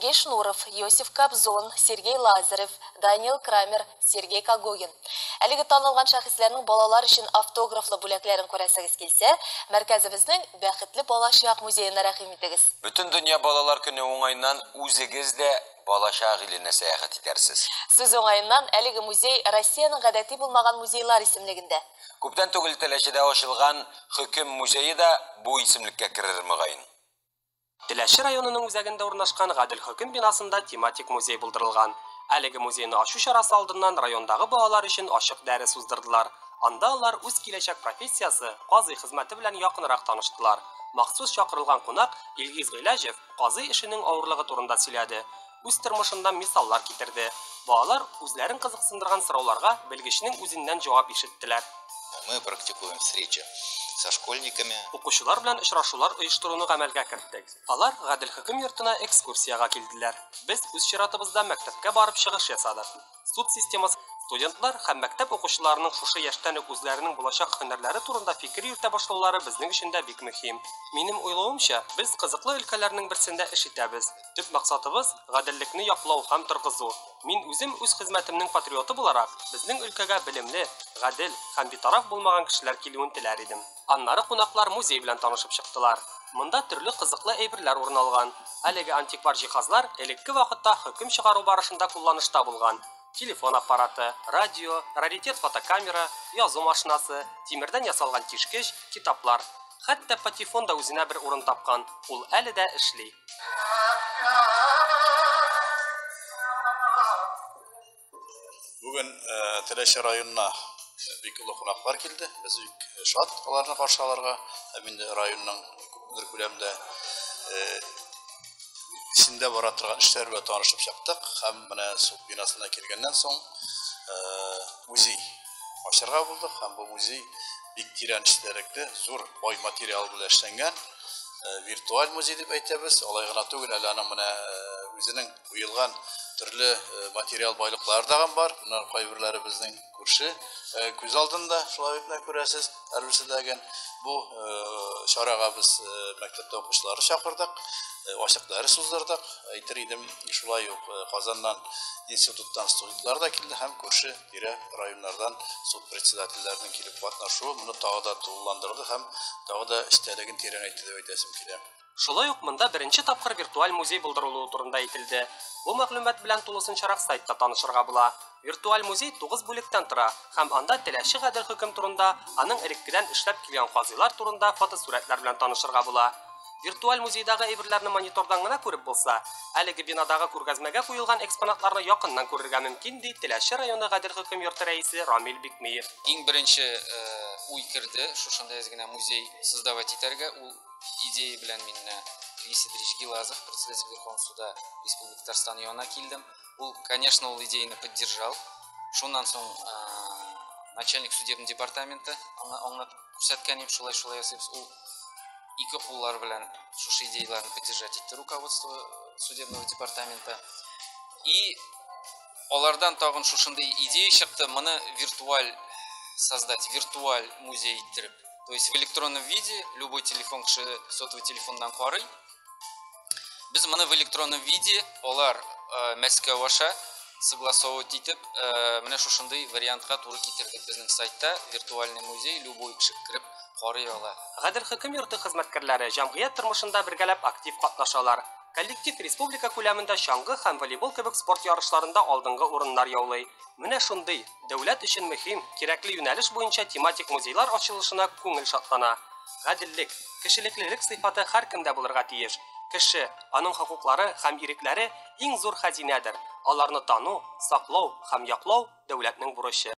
Сергей Шнуров, Йосиф Кобзон, Сергей Лазарев, Даниил Крамер, Сергей Когогин. Әлеге танылган шәхесләрнең балалар өчен автографлы бүләкләрен күрәсегез килсә, мәркәзебезнең Бәхетле балачак музеена рәхим итегез. Бөтендөнья балалар көне уңаеннан үзегез дә балачак иленә сәяхәт итәрсез. Сүз уңаеннан, әлеге музей Россиянең гадәти булмаган музейлар исемлегендә. Күптән түгел Теләчедә ачылган Хөкем музее да бу исемлеккә керер, мөгаен. Теләче районының үзәгендә урнашкан Гадел хөкем бинасында тематик музей булдырылган. Әлеге музейны ачу чарасы алдыннан райондагы балалар өчен ачык дәрес уздырдылар. Анда алар үз киләчәк профессиясе, казый хезмәте белән якынрак таныштылар. Махсус чакырылган кунак Илгиз Гыйләҗев, Казый эшенең авырлыгы турында сөйләде, үз тормышыннан мисаллар китерде. Балалар үзләрен кызыксындырган сорауларга белгечнең үзеннән җавап ишеттеләр. Мы практикуем встречи со школьниками. Укучылар белән очрашулар оештыруны гамәлгә керттек. Алар Гадел хөкем йортына экскурсиягә килделәр. Без үз чиратыбызда мәктәпкә барып чыгыш ясадык. Суд системасы Студентлар һәм мәктәп укучыларының шушы яшьтән үк үзләренең булачак һөнәрләре турында фикер йөртә башлаулары безнең өчен дә бик мөһим. Минем уйлавымча, без кызыклы өлкәләрнең берсендә эш итәбез. Төп максатыбыз, гаделлекне яклау һәм торгызу. Мин үзем үз хезмәтемнең патриоты буларак, безнең өлкәгә белемле, гадел һәм битараф булмаган кешеләр килүен теләр идем. Аннары кунаклар музей белән танышып чыктылар. Монда төрле кызыклы әйберләр урын алган. Әлеге антиквар җиһазлар элекке вакытта хөкем чыгару барышында кулланышта булган, телефон аппараты, радио, раритет фотокамера, язу машинасы, тимердән ясалган тишкеч, китаплар. Хәтта патефон да үзенә бер урын тапкан, ул әле дә эшли. Бүген Теләче районына бик олы кунаклар килде. Без бик шат аларны каршы алырга. Һәм инде районның күпмедер күләмдә исендә бара торган эшләр белән танышып чыктык. Һәм менә суд бинасына килгәннән соң музей ачарга булдык. Һәм бу музей бик тирән эчтәлекле, зур бай материал белән эшләнгән. Виртуаль музей дип әйтәбез. Алай гына түгел, әле аның менә үзенең Куелган төрле материал байлыклары тагын бар. Монар кайберләре безнең күрше күз алдында, шулай итмә күрәсез, әрберседәген. Бу чарага без мәктәптә укучылары чакырдык, ачык дәрес уздырдык. Әйтер идем, шулай ук Казаннан институттан студентлар да килде һәм күрше тирә районнардан суд председательләренең килеп катнашуы моны тагы да тулыландырды һәм тагы да эчтәлеген тирәнәйтте дип әйтәсем килә. Шулай ук монда беренче тапкыр виртуаль музей булдырылуы турында әйтелде. Бу мәгълүмат белән тулысынчарак сайтта танышырга була. Виртуаль музей 9 бүлектән тора һәм анда теләче гадел хөкем турында, аның элеккедән эшләп килгән казыйлар турында фотосурәтләр белән танышырга була. Виртуаль музейдагы әйберләрне монитордан гына күреп булса, әлеге бинадагы күргәзмәгә куелган экспонатларны якыннан күрергә мөмкин, ди Теләче районы гадел хөкем йорты рәисе Рамил Бикмиев. Иң беренче э, уй керде, шушындый әз генә музей создавать итәргә. Ул Идея белән мин менә Квисидрич Гилазов, председатель Верховного суда Республики Татарстан янына килдем. Ул, конечно, ул идеяны поддержал. Шуннан соң начальник судебный департаменты аңа аңлатып күрсәткәнем шулай шулай ясыйбыз. Ул ике куллар белән шушы идеяләрне поддержать итте руководство судебного департамента. И алардан тагын шушындый идея чыкты, моны виртуаль создать, виртуаль музей иттереп. То есть в электронном виде любой телефон кеше сотовый телефоннан карый. Без моны в электронном виде алар э, Мәскәү аша согласовывать итеп, э, менә шушындый вариантка туры китердек безнең сайтта виртуальный музей любой кеше кирип карый ала. Гадел хөкем йорты хезмәткәрләре җәмгыять тормышында бергәләп актив катнашалар. Коллектив республика күләмендә чаңгы һәм волейбол кебек спорт ярышларында алдынгы урыннар яулый. Менә шундый Дәүләт өчен мөһим, кирәкле юнәлеш буенча тематик музейлар ачылышына күңел шатлана. Гаделлек, кешелеклелек сыйфаты һәркемдә булырга тиеш. Кеше, аның хокуклары һәм ирекләре иң зур хәзинәдер, аларны тану, саклау һәм яклау дәүләтнең бурычы.